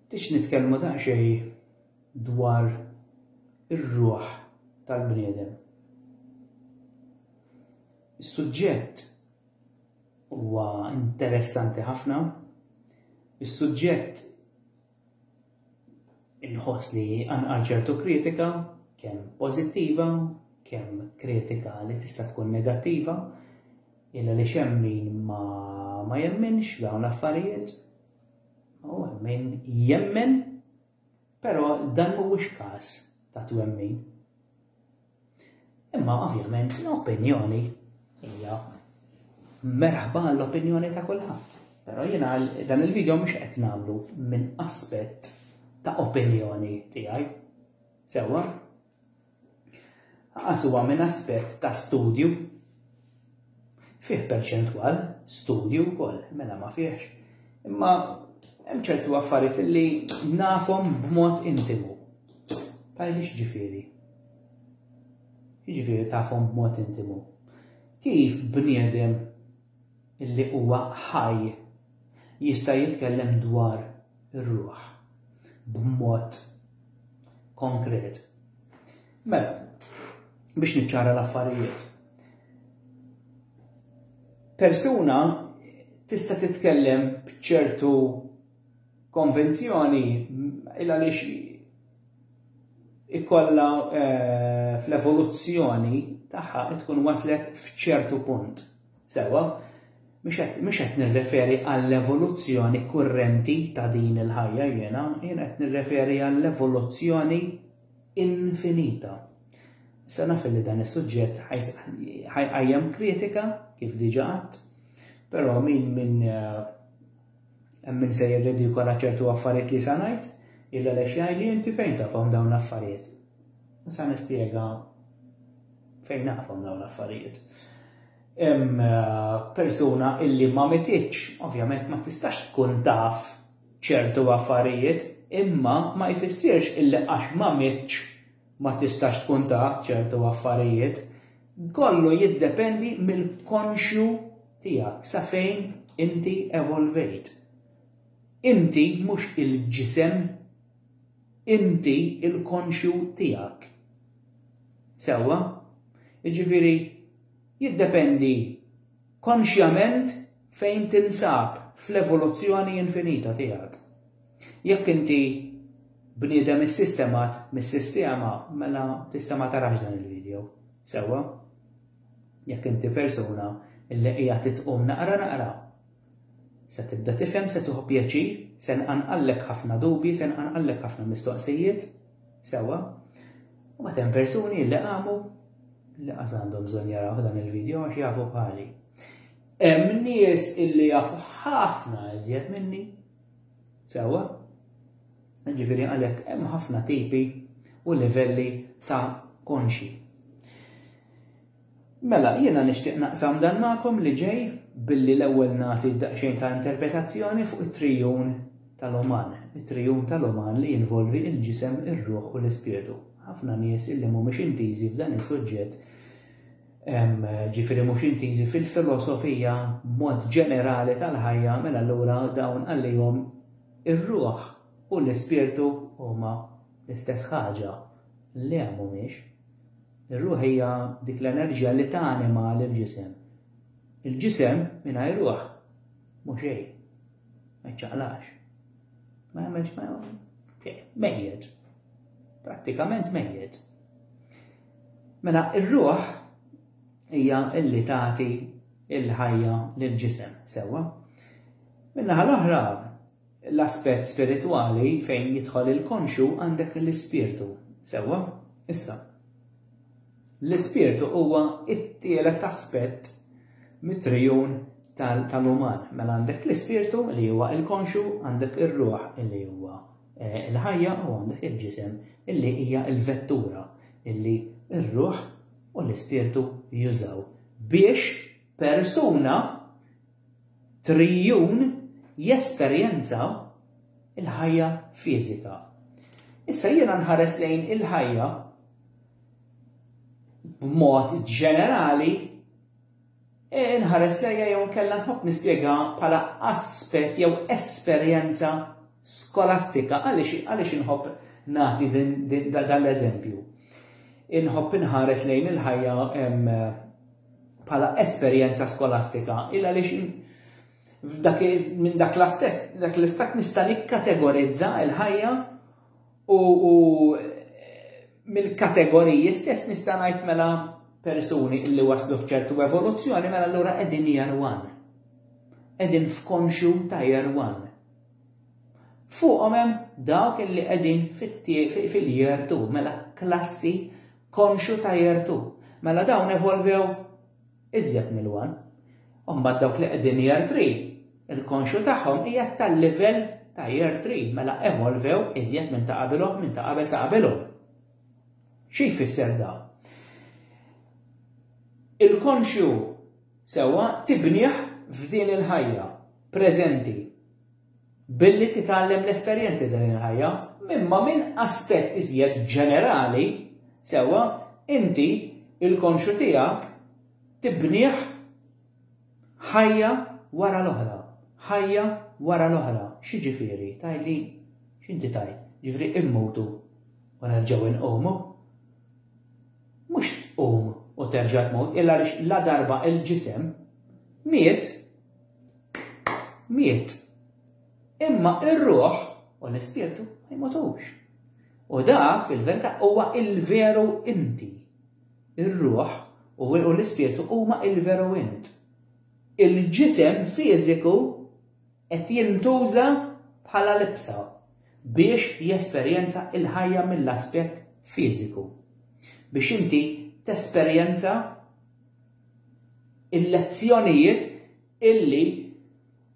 Tix nitkellmu daqsxejn dwar ir-ruħ tal-bniedem. Is-suġġett huwa interessanti ħafna. Is-suġġett Inħoss li anqal ċertu kritika, kemm pożittiva, kemm kritika li tista' tkun negattiva, illa li xem min ma, ma jemminx dawn l-affarijiet, u min jemmen, però dan mhuwiex każ ta' twemmin. Imma ovvjament l-opinjoni hija merħba l-opinjoni ta' kulħadd. Però jiena dan il-video mhux qed nagħmlu minn aspett ta' opinjoni tiegħi. Sewwa? Għas huwa minn aspett ta' studju Fih perċentwal, studji wkoll, mela ma fihx. Imma hemm ċertu affarijiet li nafhom b'mod intimu. Tajli x'ġifieri? Jiġifieri tafhom b'mod intimu. Kif bniedem illi huwa ħaj jista' jitkellem dwar ir-ruħ b'mod konkret. Mela, biex niċċara l-affarijiet. Persuna tista' titkellem b'ċertu konvenzjoni il għaliex ikolla eh, fl-evoluzzjoni tagħha tkun waslet f'ċertu punt. Sewa, mhux qed nirreferi għall-evoluzzjoni kurrenti ta' din il-ħajja jiena, jiena qed nirreferi għall-evoluzzjoni infinita. Issa naf li dan is-suġġett ħajqajjem kritika kif diġà għadd, però min min eh, hemm min se jirridikola ċertu affarijiet li sa ngħid, illa lex jgħidli inti fejn tafhom dawn l-affarijiet. Sa nispjega fejn naqfhom dawn l-affarijiet. Hemm eh, persuna illi ma mititx, ovvjament ma tistax tkun taf ċertu affarijiet imma ma jfissirx illi għax ma mittx ma tistax tkun taf ċertu affarijiet. Kollu jiddependi mill-konxju tiegħek sa fejn inti evolvejt. Inti mhux il-ġisem, inti l-konxju tiegħek. Sewwa? Jiġifieri jiddependi konxjament fejn tinsab fl-evoluzzjoni infinita tiegħek. Jekk inti bniedem issistemat mis-sistema, mela tista' ma tarax dan il-video, sewwa? Jekk inti persuna li qiegħed titqum naqra naqra, se tibda tifhem, se tieħu pjaċir, se nqanqallek ħafna dubji, se nqanqallek ħafna mistoqsijiet, Sewwa, u għad hemm persuni li qamu li qas għandhom bżonn jaraw dan il-video għax jafu bħali. Hemm nies illi jafu ħafna iżjed minni. Sewwa, ġifieri għalhekk hemm ħafna tipi u livelli ta' konxi. Mela, jiena nixtieq naqsam dan magħkom li ġej billi l-ewwel nagħti daqsxejn ta' interpretazzjoni fuq it-trijun tal-uman, it-trijun tal-uman li jinvolvi l-ġisem, ir-ruħ u l-ispirtu. Ħafna nies illi mhumiex intiżi f'dan is-suġġett, ġifieri mhux intiżi fil-filosofija b'mod ġenerali tal-ħajja, mela allura dawn għalihom ir-ruħ u l-ispirtu huma l-istess ħaġa. Le, mhumiex. Ir-ruħ hija dik l-enerġija li tanima lill-ġisem. Il-ġisem mingħajr ruħ mhu xejn. Ma jċaqlax. Ma jagħmilx ma mejjed. Prattikament mejjed. Mela ir-ruħ hija illi tagħti il-ħajja lill-ġisem sewwa. Minnaħa l-oħra L-aspett spiritwali fejn jidħol il-konxju għandek l-ispirtu, sewwa? Issa, l-ispirtu huwa t-tielet aspett mit-trijun tal-uman. Mela għandek l-ispirtu li huwa il-konxju, għandek ir-ruħ li huwa eh, il-ħajja u għandek il-ġisem illi hija l-vettura illi r-ruħ u l-ispirtu jużaw biex persuna triljun jesperjenza l-ħajja fiżika. Issa jiena nħares lejn il-ħajja b'mod ġenerali e, nħares lejja jew nkella nħobb nispjega bħala aspett jew esperjenza skolastika għaliex inħobb nagħti dan l-eżempju. Inħobb inħares lejn il-ħajja bħala esperjenza skolastika illa għaliex minn dak l-istess dak l-istat nista' nikkategorizza l-ħajja u mill-kategoriji stess nista' ngħid mela persuni illi waslu f'ċertu evoluzzjoni mela allura qegħdin year one. Qegħdin f'konxju ta' year one. Fuqhom hemm dawk illi qegħdin fil-year two mela klassi Konxu ta' jertu. Mela dawn evolvew iżjed mill-one. U mbagħad dawk li qegħdin year three, il-konxu tagħhom qiegħed tal-livell ta' year three, mela evolvew iżjed minn ta' qabilhom, minn ta' qabel ta' qabilhom. Xi jfisser da? Il-konxju sewwa tibnih f'din il-ħajja preżenti. Billi titgħallem l-esperjenzi ta' din il-ħajja, imma minn aspett iżjed ġenerali, sewwa, inti l-konxju tiegħek tibnih ħajja wara l-oħra, ħajja wara l-oħra. X'jiġifieri? Tgħidli, x'inti tgħid? Jiġifieri immutu u nerġgħu nqumu? Mhux tqum u terġa' tmut, illa għaliex ladarba l-ġisem miet, miet. Imma ir-ruħ u l-ispirtu ma jmutux. U da fil-verità huwa il-veru inti. Ir-ruħ u l-ispirtu huma il-veru int. Il-ġisem fiżiku qed jintuża bħala libsa biex jesperjenza il-ħajja mill-aspett fiżiku. Biex inti tesperjenza il-lezzjonijiet illi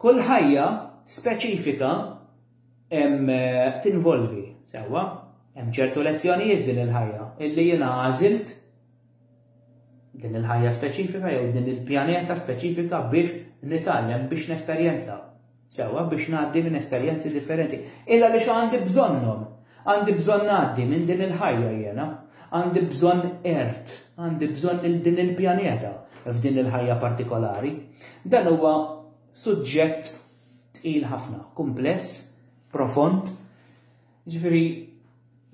kull ħajja speċifika tinvolvi, sewwa, hemm ċertu lezzjonijiet din il-ħajja illi jiena għażilt din il-ħajja speċifika jew din il-pjaneta speċifika biex nitgħallem biex nesperjenza. sewwa biex ngħaddi minn esperjenzi differenti. Illa għaliex għandi bżonnhom. Għandi bżonn ngħaddi minn din il-ħajja jiena. Għandi bżonn ert, għandi bżonn il din il-pjaneta f'din il-ħajja partikolari. Dan huwa suġġett tqil ħafna, kumpless, profond, Jiġifieri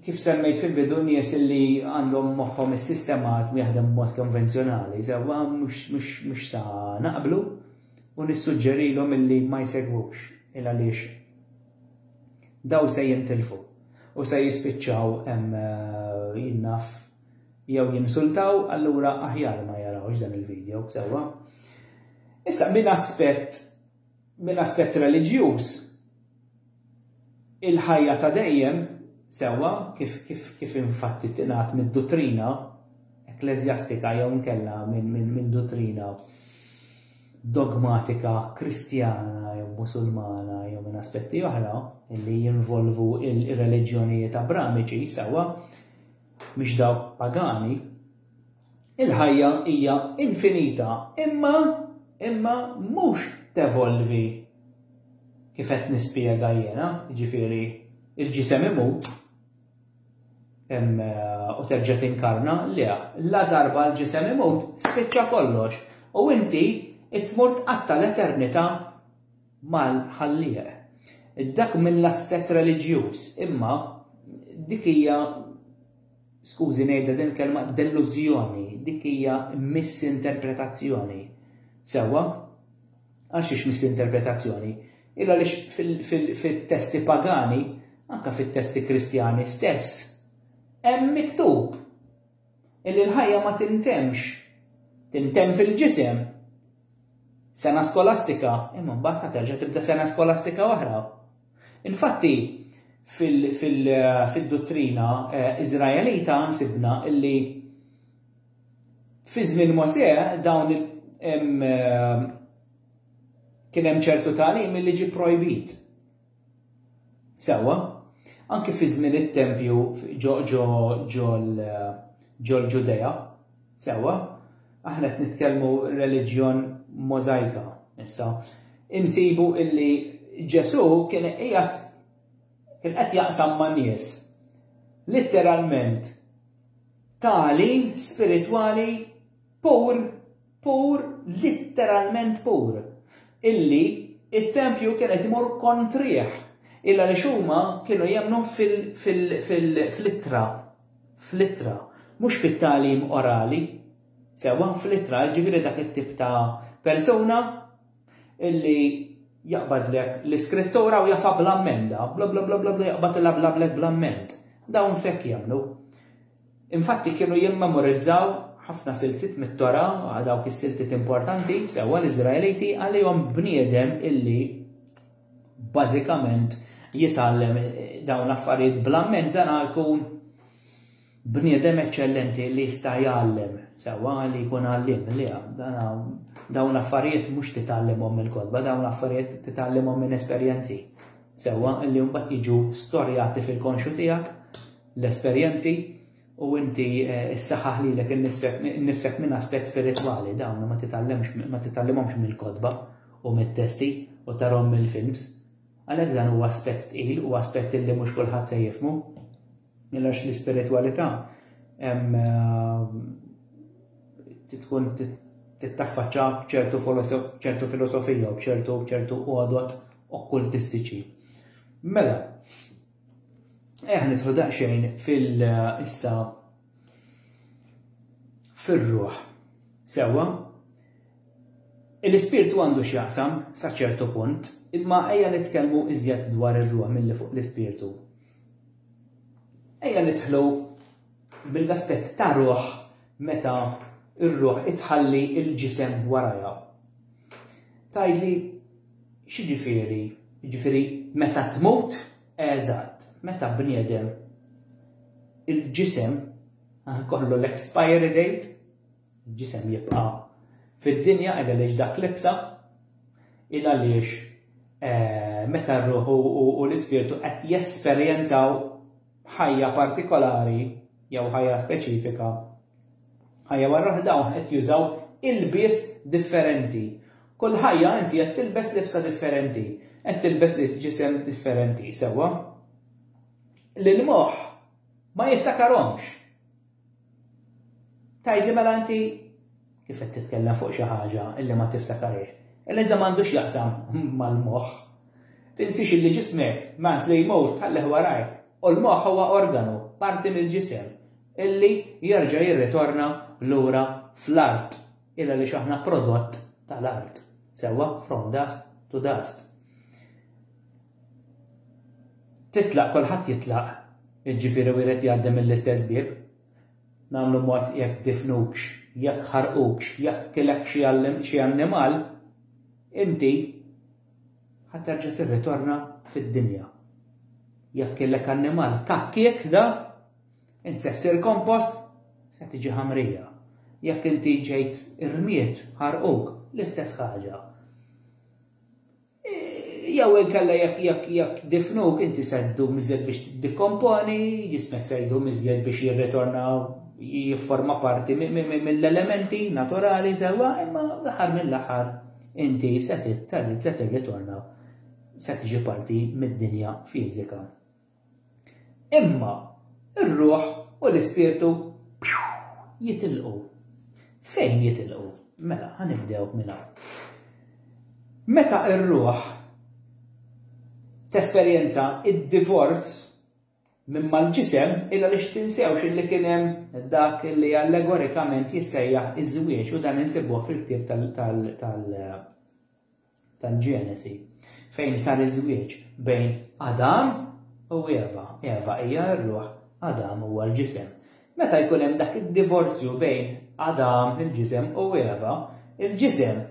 kif semmejt fil-bidu nies li għandhom moħħhom is-sistemat jaħdem b'mod konvenzjonali sewwa mhux sa naqblu u nissuġġerilhom illi ma jsegwux il għaliex daw se jintilfu u se jispiċċaw hemm eh, jinnaf jew jinsultaw allura aħjar ma jarawx dan il-video sewwa. Issa minn aspett Mill-aspett reliġjuż, il-ħajja ta' dejjem, sewwa kif infatti tingħad mid-duttrina ekkleżjastika jew inkella minn duttrina dogmatika Kristjana jew Musulmana jew minn aspetti oħra li jinvolvu r-reliġjonijiet Abramiċi, sewwa, mhix dawk pagani, Il-ħajja hija infinita imma imma mhux tevolvi kif qed nispjega jiena, jiġifieri il-ġisem imut u terġa' tinkarna, le, la darba l-ġisem imut spiċċa kollox u inti tmur tqatta' l-eternità mal-Ħallieq. Dak mill-aspett reliġjuż, imma dik hija skużi ngħidha din il-kelma, dellużjoni, dik hija misinterpretazzjoni. Sewwa? Għal xiex misinterpretazzjoni? Il għaliex fit-testi pagani, anke fit-testi kristjani stess, hemm miktub illi l-ħajja ma tintemx, tintemm fil-ġisem. Sena skolastika, imma mbagħad terġa' tibda sena skolastika oħra. Infatti, fid-duttrina Iżraelita sibna li fi żmien Mosè dawn kien hemm ċertu tagħlim li ġie pprojbit. Sewwa, anki fi żmien it-tempju ġol-Ġudea, Sewwa, aħna qed nitkellmu reliġjon możajka issa. Insibu illi Ġesù kien qiegħed kien qed jaqsam ma' nies litteralment tagħlim spiritwali pur, pur, litteralment pur, illi it-tempju kien qed imur kontrih illa li xuma kienu jemnu fil-ittra fl-ittra, mhux fit-tagħlim orali, sewwa fl-ittra, jiġifieri dak it-tip ta' persuna illi jaqbadlek l-Iskrittura u jafha bla mmenda, bla bla bla bla jaqbadilha bla bla bla mment. Dawn f'hekk jemmnu. Infatti kienu jimmemorizzaw ħafna siltiet mit-Tora, dawk is-siltiet importanti, sewwa l-Iżraeliti għalihom bniedem illi bażikament jitgħallem dawn l-affarijiet bl-amment dan jkun bniedem eċċellenti li jista' jgħallem sewwa li jkun għallim li dawn l-affarijiet mhux titgħallimhom mill-kotba, dawn l-affarijiet titgħallimhom minn esperjenzi. Sewwa li mbagħad jiġu storjati fil-konxu tiegħek l-esperjenzi u inti ssaħħaħ lilek innifsek minn aspett spiritwali dawn ma titgħallimx ma titgħallimhomx mill-kotba u mit-testi u tarhom mill-films. Għalhekk dan huwa aspett tqil u aspett illi mhux kulħadd se jifmu. Għax l-ispiritwalità tkun tittaffaċċa b'ċertu ċertu filosofija u b'ċertu ċertu għodot okkultistiċi. Mela, Eħ nidħlu daqsxejn fil-issa fir-ruħ. Sewwa, l-ispirtu għandu x'jaqsam sa ċertu punt, imma ejja nitkellmu iżjed dwar ir-ruħ milli fuq l-ispirtu. Ejja nidħlu mill-aspett ta' ruħ meta r-ruħ itħalli il-ġisem warajha. Tajdli X'jiġifieri? Jiġifieri meta tmut, eżatt, meta bniedem, il-ġisem, ikollu l-expiry date, il-ġisem jibqa' fid-dinja il għaliex dak libsa, il għaliex meta r-ruħ u l-ispirtu qed jesperjenzaw ħajja partikolari jew ħajja speċifika, ħajja wara l-oħra dawn qed jużaw ilbies differenti. Kull ħajja inti qed tilbes libsa differenti, qed tilbes ġisem differenti, sewwa? L-moħħ ma jiftakarhomx. Tgħidli mela inti kif qed titkellem fuq xi ħaġa illi ma tiftakarhiex. Illi dan m'għandux jaqsam mal-moħħ. Tinsiex illi ġismek mans li jmut tħallih warajk u l-moħħ huwa organu, parti mill-ġisem, illi jerġa' jirritorna lura fl-art il għaliex aħna prodott tal-art. Sewwa? From dust to dust. Titlaq kulħadd jitlaq, jiġifieri wieħed jgħaddi mill-istess bieb. Nagħmlu mod jekk difnukx, jekk ħarqukx, jekk kilek xi xi annimal, inti ħa terġa' tirritorna fid-dinja. Jekk kilek annimal kakkiek da, int se ssir kompost, se tiġi ħamrija. Jekk inti ġejt irmiet, ħarquk, l-istess ħaġa. Jew inkella jekk jekk jekk difnuk inti se ddum iżjed biex tiddekomponi, ġismek se jdum iżjed biex jirritorna jifforma parti mill-elementi naturali sewwa, imma l-aħħar mill-aħħar inti se tirritorna se tiġi parti mid-dinja fiżika. Imma r-ruħ u l-ispirtu jitilqu. Fejn jitilqu? Mela, ħanibdew minn hawn. Meta r-ruħ tesperjenza id-divorz minn mal-ġisem illa li xtinsewx illi kien hemm dak li allegorikament jissejjaħ iż-żwieġ u dan insibuh fil-ktieb tal- tal-Ġenesi, fejn sar iż-żwieġ bejn Adam u Eva. Eva hija r-ruħ, Adam huwa l-ġisem. Meta jkun hemm dak id-divorzju bejn Adam, il-ġisem, u Eva, il-ġisem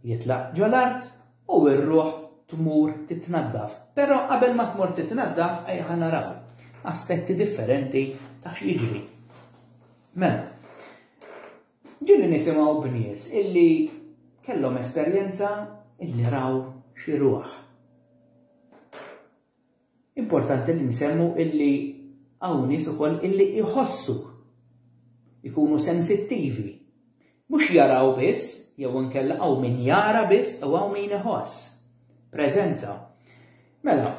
jitlaq ġol-art u r-ruħ tmur titnaddaf. Però qabel ma tmur titnaddaf ejja naraw aspetti differenti ta' x'jiġri. Mela, Ġieli nisimgħu b'nies illi kellhom esperjenza illi raw xi rwah. Importanti li nsemmu illi hawn nies ukoll illi jħossu, ikunu sensittivi. Mhux jaraw biss, jew inkella hawn min jara biss u hawn min iħoss. Preżenza. Mela,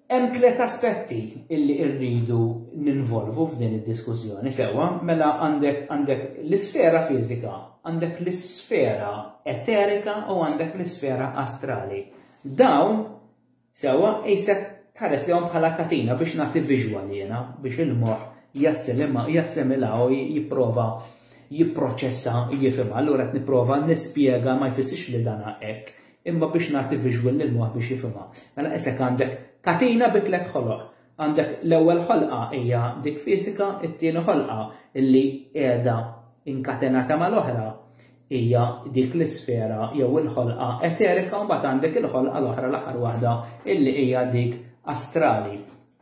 Hemm tliet aspetti illi rridu ninvolvu f'din id-diskussjoni sewwa. Mela għandek għandek l-isfera fiżika, għandek l-isfera eterika u għandek l-isfera astrali. Dawn sewwa qisek tħares lihom bħala katina biex nagħti visual jiena biex il-moħħ jassilima jassimila u jipprova jipproċessa jifhimha. Allura qed nipprova nispjega ma jfissirx li dana hekk. Imma biex nagħti visual lill-moħħ biex jifhimha. Mela isek għandek katina bi tliet ħoloq. Għandek l-ewwel ħolqa hija dik fisika, it-tieni ħolqa li qiegħda inkatenata mal-oħra hija dik l-isfera jew il-ħolqa eterika u mbagħad għandek il-ħolqa l-oħra l-aħħar waħda illi hija dik astrali.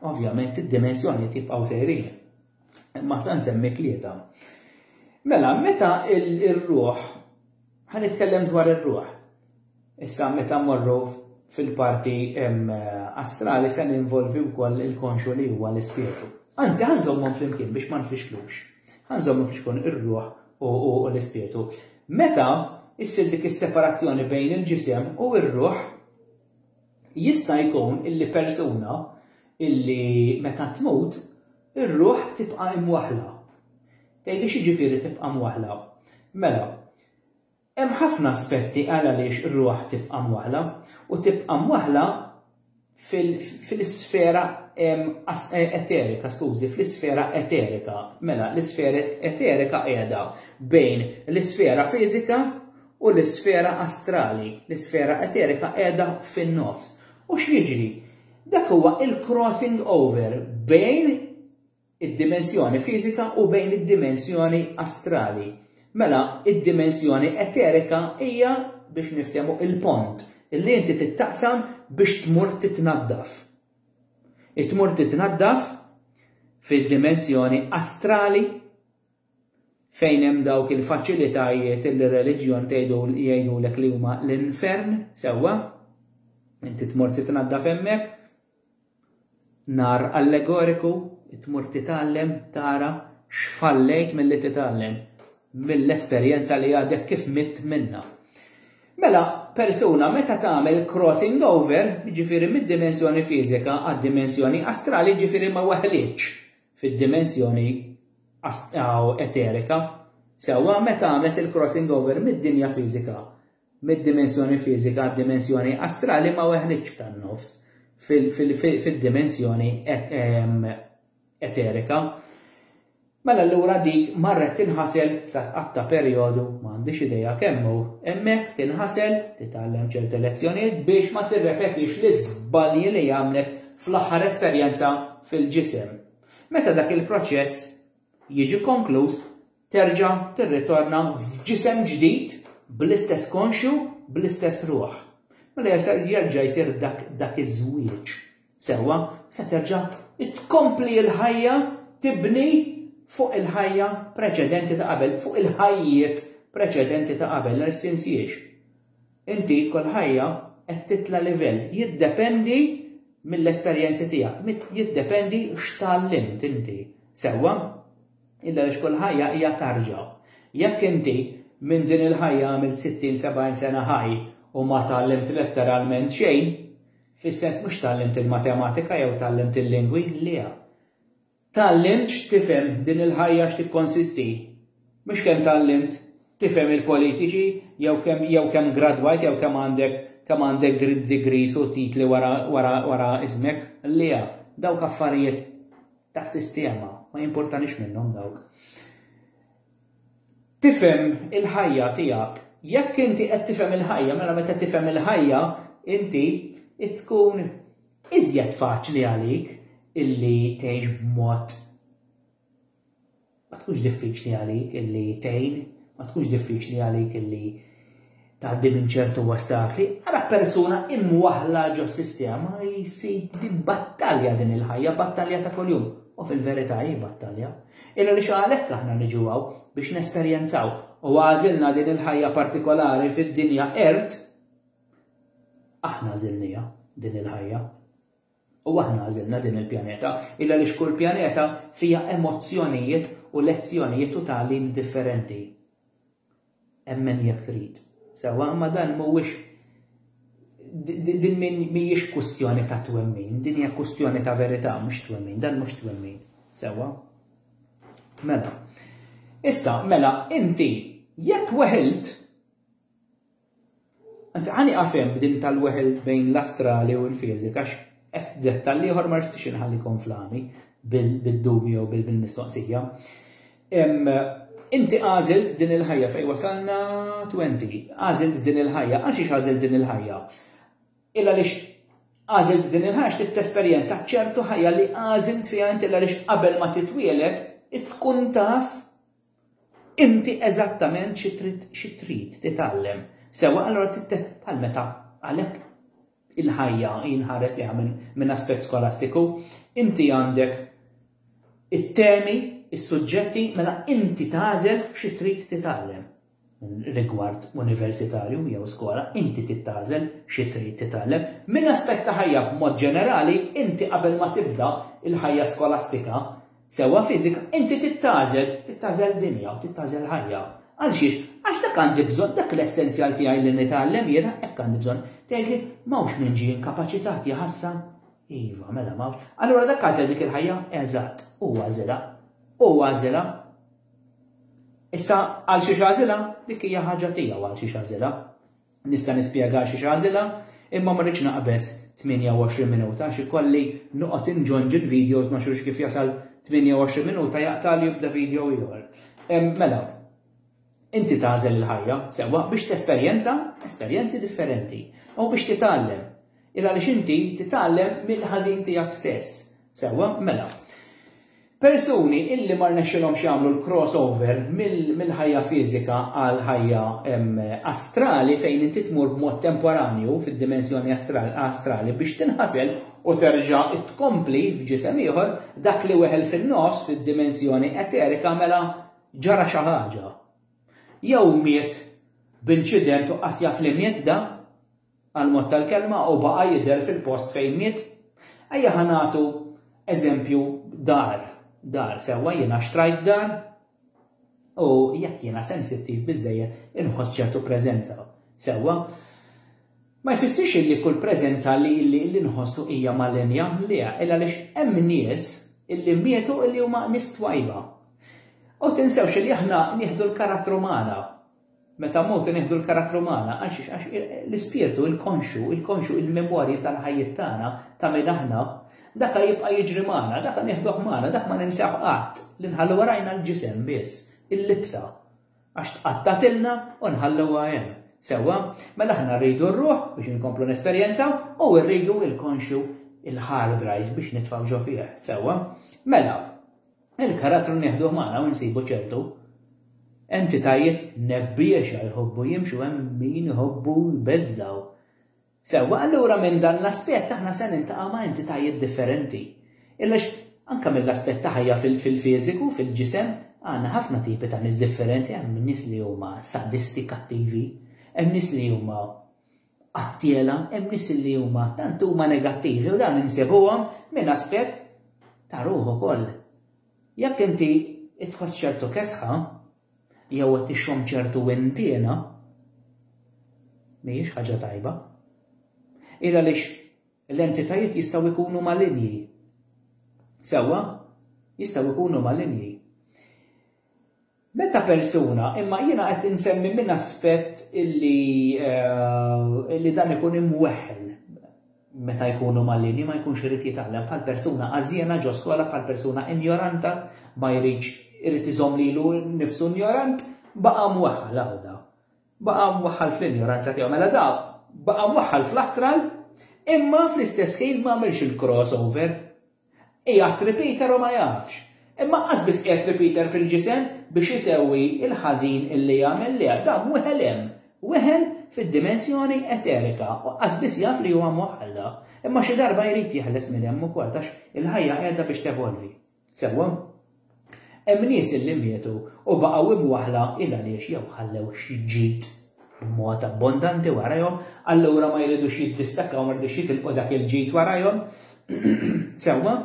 Ovvjament id-dimensjoni tibqgħu sejrin. Imma sa nsemmi tlieta. Mela, meta il-ruħ Ħa nitkellem dwar ir-ruħ. Issa meta mmorru fil-parti astrali se ninvolvi wkoll il-konxu li huwa l-ispirtu. Anzi, ħanżommhom flimkien biex ma nfixklux. Ħanżommhom flimkien ir-ruħ u l-ispirtu. Meta issir dik is-separazzjoni bejn il-ġisem u r-ruħ, Jista' jkun illi persuna illi meta tmut, ir-ruħ tibqa' imwaħħla. Tgħidi x'jiġifieri tibqa' mwaħħla? Mela, hemm ħafna aspetti għal għaliex ir-ruħ tibqa' mwaħħla, u tibqa' mwaħħla fil-isfera eterika, skużi, fl-isfera eterika. Mela, l-isfera eterika qiegħda bejn l-isfera fiżika u l-isfera astrali, l-isfera eterika qiegħda fin-nofs. U x'jiġri? Dak huwa l-crossing over bejn id-dimensjoni fiżika u bejn id-dimensjoni astrali. Mela, id-dimensjoni eterika hija biex niftehmu il-pont li inti tittaqsam biex tmur titnaddaf. Tmur titnaddaf fid-dimensjoni astrali Fejn hemm dawk il-faċilitajiet li r-reliġjon tgħidu jgħidulek li huma l-infern, sewwa, inti tmur titnaddaf hemmhekk, nar allegoriku, tmur titgħallem tara x'fallejt milli titgħallem mill-esperjenza li għadek kif mitt minnha. Mela, persuna meta tagħmel crossing over, jiġifieri mid-dimensjoni fiżika għad-dimensjoni astrali, jiġifieri ma weħlietx fid-dimensjoni eterika, sewwa meta għamlet il-crossing over mid-dinja fiżika, mid-dimensjoni fiżika għad-dimensjoni astrali ma weħlitx f'tan-nofs, fid-dimensjoni eterika, mela allura dik marret tinħasel sa tqatt ta' perjodu, ma għandix idea kemm hu, hemmhekk tinħasel, titgħallem ċerti lezzjonijiet biex ma tirrepetix l-iżbalji li għamlet fl-aħħar esperjenza fil-ġisem. Meta dak il-proċess jiġi konkluż, terġa' tirritorna f'ġisem ġdid bl-istess konxju, bl-istess ruħ. Mela jasar jerġa' jsir dak dak iż-żwieġ. Sewwa, se terġa' tkompli l-ħajja tibni fuq il-ħajja preċedenti ta' qabel, fuq il-ħajjiet preċedenti ta' qabel, għal tinsiex. Inti kull ħajja qed titla' livell. Jiddependi mill-esperjenzi tiegħek, mit jiddependi x'tgħallimt inti. Sewwa? Illa għaliex kull ħajja hija tarġa. Jekk inti minn din il-ħajja għamilt sittin, sebgħin sena ħaj u ma tgħallimt letteralment xejn, fis-sens mhux tgħallimt il-matematika jew tgħallimt il-lingwi, le. Tgħallimtx tifhem din il-ħajja x'tikkonsisti? Mhux kemm tgħallimt tifhem il-politiċi jew kemm jew kemm gradwajt jew kemm għandek kemm għandek gr degrees u titli wara wara wara ismek. Lea, dawk affarijiet ta' sistema, ma jimpurtanix minnhom dawk. Tifhem il-ħajja tiegħek. Jekk inti qed tifhem il-ħajja, mela meta tifhem il-ħajja inti tkun Iżjed faċli għalik illi tgħix b'mod Ma tkunx diffiċli għalik illi tgħin, ma tkunx diffiċli għalik illi tgħaddi minn ċertu ostakli, ara persuna imwaħla ġo sistema jsib din battalja din il-ħajja, battalja ta' kuljum. U fil-verità hi battalja. Illa li xalek aħna niġu għaw biex nesperjenzaw u għażilna din il-ħajja partikolari fid-dinja ert Aħna għażilniha, din il-ħajja. U aħna għażilna din il-pjaneta, illa għaliex kull pjaneta fiha emozzjonijiet u lezzjonijiet u tagħlim differenti. Emmen jekk trid. Sewwa, imma dan mhuwiex din mhijiex kwistjoni ta' twemmin, din hija kwistjoni ta' verità mhux twemmin, dan mhux twemmin. Sewwa? Mela. Issa, mela, inti jekk weħilt Anzi, ħa nieqaf hemm b'din tal-weħel bejn l-astrali u l-fiżika għax qed dettall ieħor ma rixtiex inħalli konflami bid-dubju jew bil-mistoqsija. Inti għażilt din il-ħajja fejn wasalna 20, għażilt din il-ħajja, għax ix għażilt din il-ħajja? Illa lix għażilt din il-ħajja x'tit tesperjenza ċertu ħajja li għażilt fiha inti illa lix qabel ma titwielet tkun taf Inti eżattament xi trid xi trid titgħallem. Sewwa, allura trid bħal meta għalhekk il-ħajja jinħares liha minn min aspett skolastiku, inti għandek it-temi, is-suġġetti, mela inti tagħżel xi trid titgħallem. rigward universitarju jew skola, inti trid tagħżel xi trid titgħallem. Minn aspett ta' ħajja b'mod ġenerali, inti qabel ma tibda l-ħajja skolastika, sewwa fiżika, inti trid tagħżel, trid tagħżel dinja, trid tagħżel ħajja. Għal xiex? Għax dak għandi bżonn, dak l-essenzjal tiegħi li nitgħallem jiena, hekk għandi bżonn. Tgħidli, m'hawnx min ġie inkapaċitat, ja ħasra? Iva, mela m'hawnx. Allura dak għażel dik il-ħajja? Eżatt, hu għażilha. Hu għażilha. Issa għal xi xażila dik hija ħaġa tiegħu għal xi xażila. Nista' nispjega għal xi xażila imma ma rridx naqbeż 28 minuta xi kolli noqgħod inġonġi l-videos ma xux kif jasal 28 minuta jaqta' li jibda video ieħor. Mela, inti tażel il-ħajja sewwa biex tesperjenza esperjenzi differenti u biex titgħallem. Illa li xinti titgħallem mill-ħażin tiegħek stess. Sewwa, mela. Persuni illi ma rnexxilhomx jagħmlu l-cross over mill-ħajja fiżika għal ħajja astrali fejn inti tmur b'mod temporanju fid-dimensjoni astrali biex tinħasel u terġa' tkompli f'ġisem ieħor, dak li weħel fin-nofs fid-dimensjoni eterika mela ġara xi ħaġa. Jew miet b'inċident u qas jaf li miet da. għall-mod tal-kelma u baqa' jidher fil-post fejn miet? Ejja ħa nagħtu eżempju dar, dar, sewwa jiena xtrajt dar u jekk jiena sensittiv biżżejjed inħoss ċertu preżenza, sewwa? Ma jfissirx li kull preżenza li li nħossu hija malinja, le, illa għaliex hemm nies illi mietu illi huma nies twajba. U tinsewx li aħna nieħdu l-karattru magħna Meta mmutu nieħdu l-karattru magħna, għalxiex? Għax l-ispirtu, il-konxu, il-konxu, il-memorja tal-ħajjiet tagħna, ta' min aħna, daka jibqa' jiġri magħna, daka nieħduh magħna, dak ma ninsewh qatt, li nħallu warajna l-ġisem biss, il-libsa, għax tqattagħtilna u nħalluha hemm. Sewwa? Mela aħna rridu r-ruħ biex inkomplu nesperjenzaw u rridu l-konxu, il-hard drive biex nitfgħu ġo fih. Sewwa? Mela, Il-karattru nieħduh magħna u nsibu ċertu entitajiet nebbiexa jħobbu jimxu hemm min iħobbu jbeżżgħu. Sewwa, allura minn dan l-aspett aħna se niltaqgħu ma' entitajiet differenti. Għaliex anke mill-aspett ta' ħajja fil-fiżiku, fil-ġisem, għandna ħafna tipi ta' nies differenti, hemm nies li huma sadisti, kattivi, hemm nies li huma Għat-tiela hemm nies li huma tant huma negattivi u dawn insibuhom minn aspett ta' ruħ ukoll. Jekk inti tħoss ċertu kesħa jew qed tixxomm ċertu wintiena, mhijiex ħaġa tajba. Il għaliex l-entitajiet jistgħu jkunu malinji. Sewwa, jistgħu jkunu malinji. Meta persuna, imma jiena qed insemmi minn aspett illi illi dan ikun imweħħel meta jkunu malinni ma jkunx irid jitgħallem bħal persuna għażiena ġo skola bħal persuna injoranta ma jridx irid iżomm lilu nnifsu injorant baqa' mweħħal għawda. Baqa' mweħħal fl-injoranza tiegħu mela da baqa' mweħħal fl-astral imma fl-istess ħin ma għamilx il-crossover Qiegħed Repeater u ma jafx. Imma qas biss qiegħed Repeater fil-ġisem biex isewwi l-ħażin illi għamel lejha. Dan weħel hemm. Weħel fid-dimensjoni eterika u qas biss jaf li huwa moħħalla. Imma xi darba jrid jeħles minn hemm ukoll għax il-ħajja qiegħda biex tevolvi. Sewwa? Hemm nies li mietu u baqgħu imwaħħla ilgħaliex jew ħallew xi ġid b'mod abbondanti warajhom, allura ma jridux jiddistakkaw, ma jridux jitilqu dak il-ġid warajhom. Sewwa?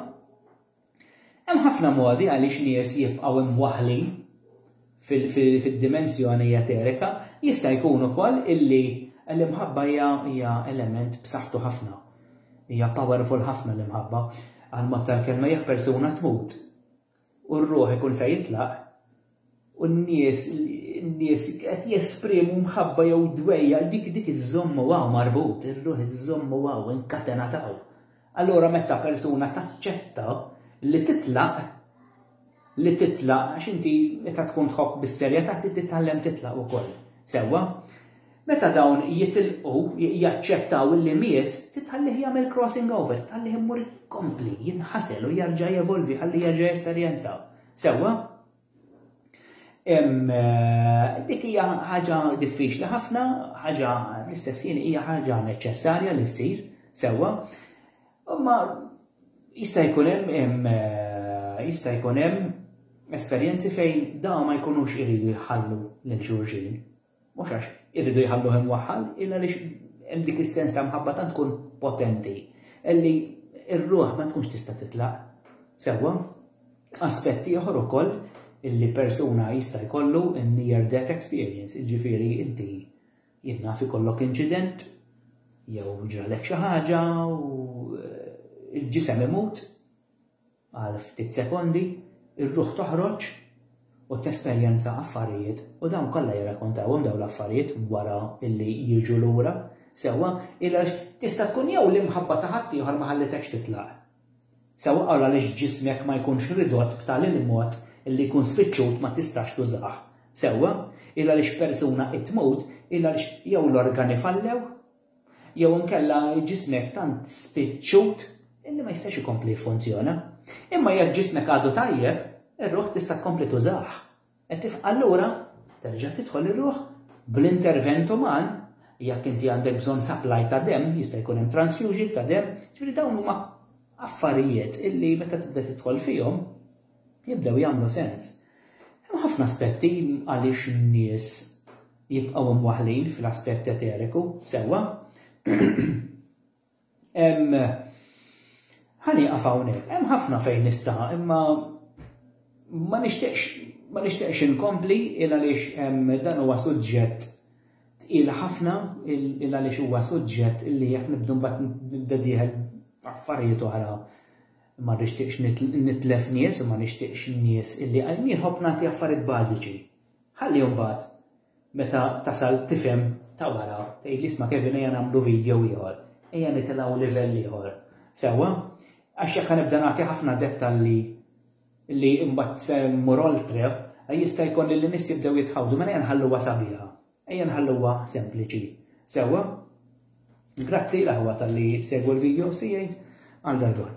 Hemm ħafna modi għaliex nies jibqgħu imwaħħlin. fid-dimensjoni eterika, jista' jkun ukoll illi l-imħabba hija element b'saħħtu ħafna. Hija powerful ħafna l-imħabba. Għall-mod tal-kelma jekk persuna tmut u r-ruħ ikun se jitlaq u n-nies nies qed jesprimu mħabba jew dwejja dik dik iżżommu hawn marbut, ir-ruħ iżżommu hawn inkatenat hawn. Allura meta persuna taċċetta li titlaq, li titlaq għax inti meta tkun tħobb bis-serjetà trid titgħallem titlaq ukoll. Sewwa? Meta dawn jitilqu, jaċċettaw li miet, titħallih jagħmel crossing over, titħallih imur ikompli, jinħasel u jerġa' jevolvi ħalli jerġa' jesperjenza. Sewwa? Eh, dik hija ħaġa diffiċli ħafna, ħaġa l-istess jien hija ħaġa neċessarja li ssir sewwa. Imma jista' jkun hemm eh, jista' jkun hemm esperjenzi fejn da ma jkunux iridu jħallu lil xulxin. Mhux għax iridu jħalluh imwaħħal, illa għaliex hemm dik is-sens ta' mħabba tant tkun potenti li r-ruħ ma tkunx tista' titlaq. Sewwa, aspett ieħor ukoll illi persuna jista' jkollu near death experience, jiġifieri inti jien naf ikollok inċident jew ġralek xi ħaġa u eh, il-ġisem imut Għal ftit sekondi, ir-ruħ toħroġ u tesperjenza affarijiet u dawn kollha jirrakkontawhom dawn l-affarijiet wara li jiġu lura, sewwa, għax tista' tkun jew l-imħabba ta' ħaddieħor ma ħallitekx titlaq, sewwa għal għaliex ġismek ma jkunx ridott b'tali l-mod li jkun spiċċut ma tistax tużah, sewwa, għal għaliex persuna qed tmut, għal għaliex jew l-organi fallew, jew inkella ġismek tant spiċċut illi ma jistax ikompli jiffunzjona. Imma jekk ġismek għadu tajjeb, ir-ruħ tista' tkompli tużah. Qed tifqa' allura terġa' tidħol ir-ruħ bl-intervent uman jekk inti għandek bżonn supply ta' dem, jista' jkun hemm transfusion ta' dem, ġifieri dawn huma affarijiet illi meta tibda tidħol fihom jibdew jagħmlu sens. Hemm ħafna aspetti għaliex nies jibqgħu mwaħħlin fl-aspett eteriku, sewwa. Hemm ħa nieqaf hawnhekk, hemm ħafna fejn nista' imma ma nixtieqx ma nixtieqx inkompli il għaliex hemm dan huwa suġġett tqil ħafna il għaliex huwa suġġett li jekk nibdu mbagħad nibda dieħel affarijiet oħra ma nixtieqx nitlef nies u ma nixtieqx nies illi għal nieħob nagħti affarijiet bażiċi. Ħalli mbagħad meta tasal tifhem ta' wara, tgħidli isma' Kevin ejja nagħmlu video ieħor, ejja nitilgħu livell ieħor. Sewwa? Għax jekk ħanibda nagħti ħafna dettalji li mbagħad se mmur oltre, jista' jkun li n-nies jibdew jitħawdu, mela ejja nħalluha sabiħa, ejja nħalluha sempliċi. Sewwa? Grazzi l-aħwa talli segwu l-videos tiegħi għal darb'oħra.